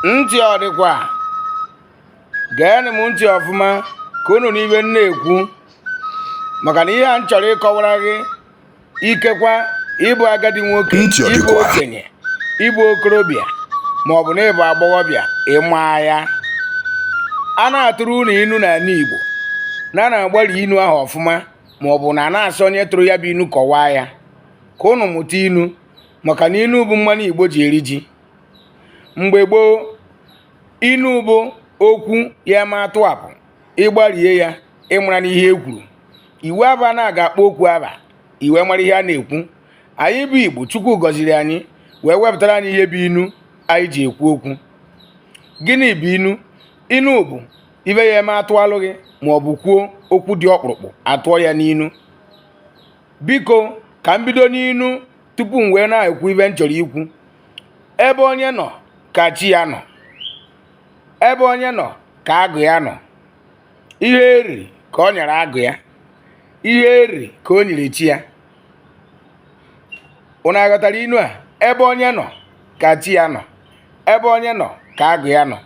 ntị ọ dịkwa geenụ m ntị ọfụma ka unu nụ ive m na-ekwu maka na ihe a m chọrọ ịkọwara gị ikekwa ị bụ agadi nwoke ị bụ okenye ị bụ okorobịa ma ọ bụ na ị bụ agbọghọbịa ị ma ya a na-atụrụ unu inu n'ala Igbo na a na-agbari inu ahụ ọfụma ma ọ bụ na a na-asị onye tụrụ ya bụ inu kọwaa ya ka unu mụta inu maka na inu bụ mmanụ igbo ji eri ji mgbe gboo inu bụ okwu a ya eme a tụapụ ị gbarie ya ị mara n'ihe e kwuru iwu abụ na a ga-akpọ okwu ava i wee mara ihe a na-ekwu anyị bụ igbo chukwu gọziri anyị wee wepụtara anyị ihe bụ inu anyị ji ekwu okwu gịnị bụ inu inu bụ ive a ya eme a tụalụ gị ma ọ bụ kwuo okwu dị ọkpụrụkpụ a tụọ ya n'inu biko ka m bido n'inu tupu m wee na-ekwu ive m chọrọ ikwu ebe onye nọ ka chi ya nọ ebe onye nọ ka agwụ ya nọ ihe eri ka o nyere agwụ ya ihe eri ka o nyere chi ya unu aghọtara inu a ebe onye nọ ka chi ya nọ ebe onye nọ ka agwụ ya nọ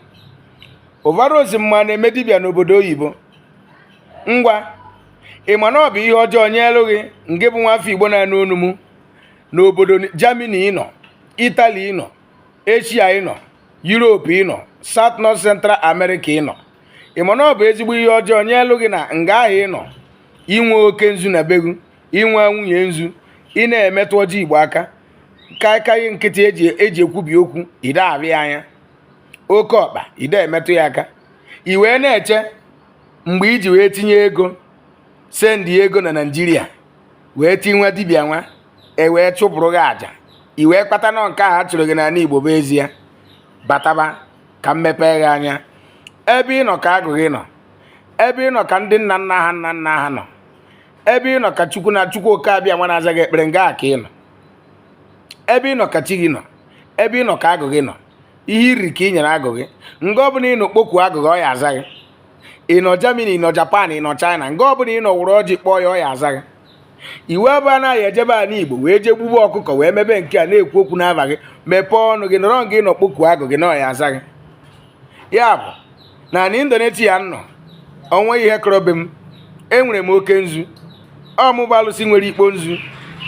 ụvarozi mma na-eme dibịa n'obodo oyibo ngwa ị ma na ọ bụ ihe ọjọọ nyelu gị nke bụ nwafọ igbo na-anụ onu m n'obodo Germany ị nọ Italy ị nọ Asia ị nọ Europe ị nọ South North Central America ị nọ ị ma na ọ bụ ezigbo ihe ọjọọ nyelu gị na nga ahụ ị nọ i nwe oke nzu na be gị i nwe nwunye nzu ị na-emetụ ọjị igbo aka kaikai nkịtị e ji ekwubi okwu i de avụ ya anya oke ọkpa i de emetụ ya aka i wee na-eche mgbe i ji wee tinye ego sendịa ego na naijiria wee ti nwa dibịa nwa e wee chụpụrụ gị aja i wee kpata na ọ nke a chụrụ gị n'ala igbo bụ ezie bataba ka m mepee gị anya ebe ị nọ ka agwụ gị nọ ebe ị nọ ka ndị nna nna ha nna nna ha nọ ebe ị nọ ka chukwu na chukwu oke abịama na-aza gị ekpere nga a ka ọ nọ ebe ị nọ ka chi gị nọ ebe ị nọ ka agwụ gị nọ ihe i ri ka i nyere agwụ gị nga ọbụla ị nọ kpokuo agwụ gị ọ ya aza gị ị nọ Germany ị nọ Japan ị nọ China nga ọbụla ị nọ were ọjị kpọọ ya ọ ya aza gị iwu abụ na ị ya ejebe ala igbo wee jee gbube ọkụkọ wee mebe nke a na-ekwu okwu n'ava gị mepee ọnụ gị nọrọ nga ị nọ kpokuo agwụ gị na ọ ya aza gị ya bụ na na Indonesia m nọ o nwe ihe kọrọ be m enwere m oke nzu ọ mụ bụ alụsị nwere ikpo nzu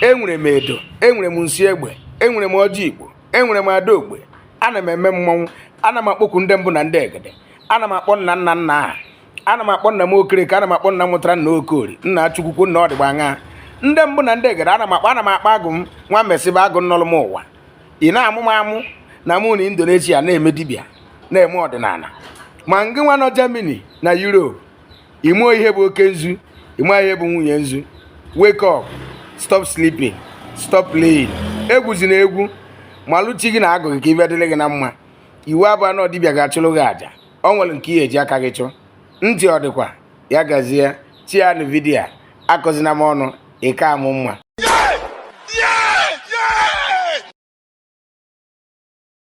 enwere m edo enwere m nsi egbe enwere m ọjị igbo enwere m ada ogbe ana m eme mmọnwụ ana m akpọku ndị mbụ na ndị egede ana m akpọ nna nna nna aha ana m akpọ nna m okereke ana m akpọ nna mụtara nna okori nna achukwukwu nna ọdịgba aṅa ndị mbụ na ndị egede ana m akpọ agwụ m nwa mesịba agwụ nọlụ m ụwa ị na-amụ m amụ na mụ nọ indonesia na-eme dibịa na-eme ọdịnala ma ngị nwa nọ germany na europe ị marọ ihe bụ oke nzu ị marọ ihe bụ nwunye nzu wake up stop sleeping stop playing egwuzina egwu malụ chi gị na agwụ gị ka ive dịlị gị na mma iwu abụrọ na ọ dibịa ga-achụrụ gị àjà o nwere nke i ye-eji aka gị chụọ ntị ọ dịkwa ya gazie share nụ vidiyo akọzina m ọnụ ịka amụ mma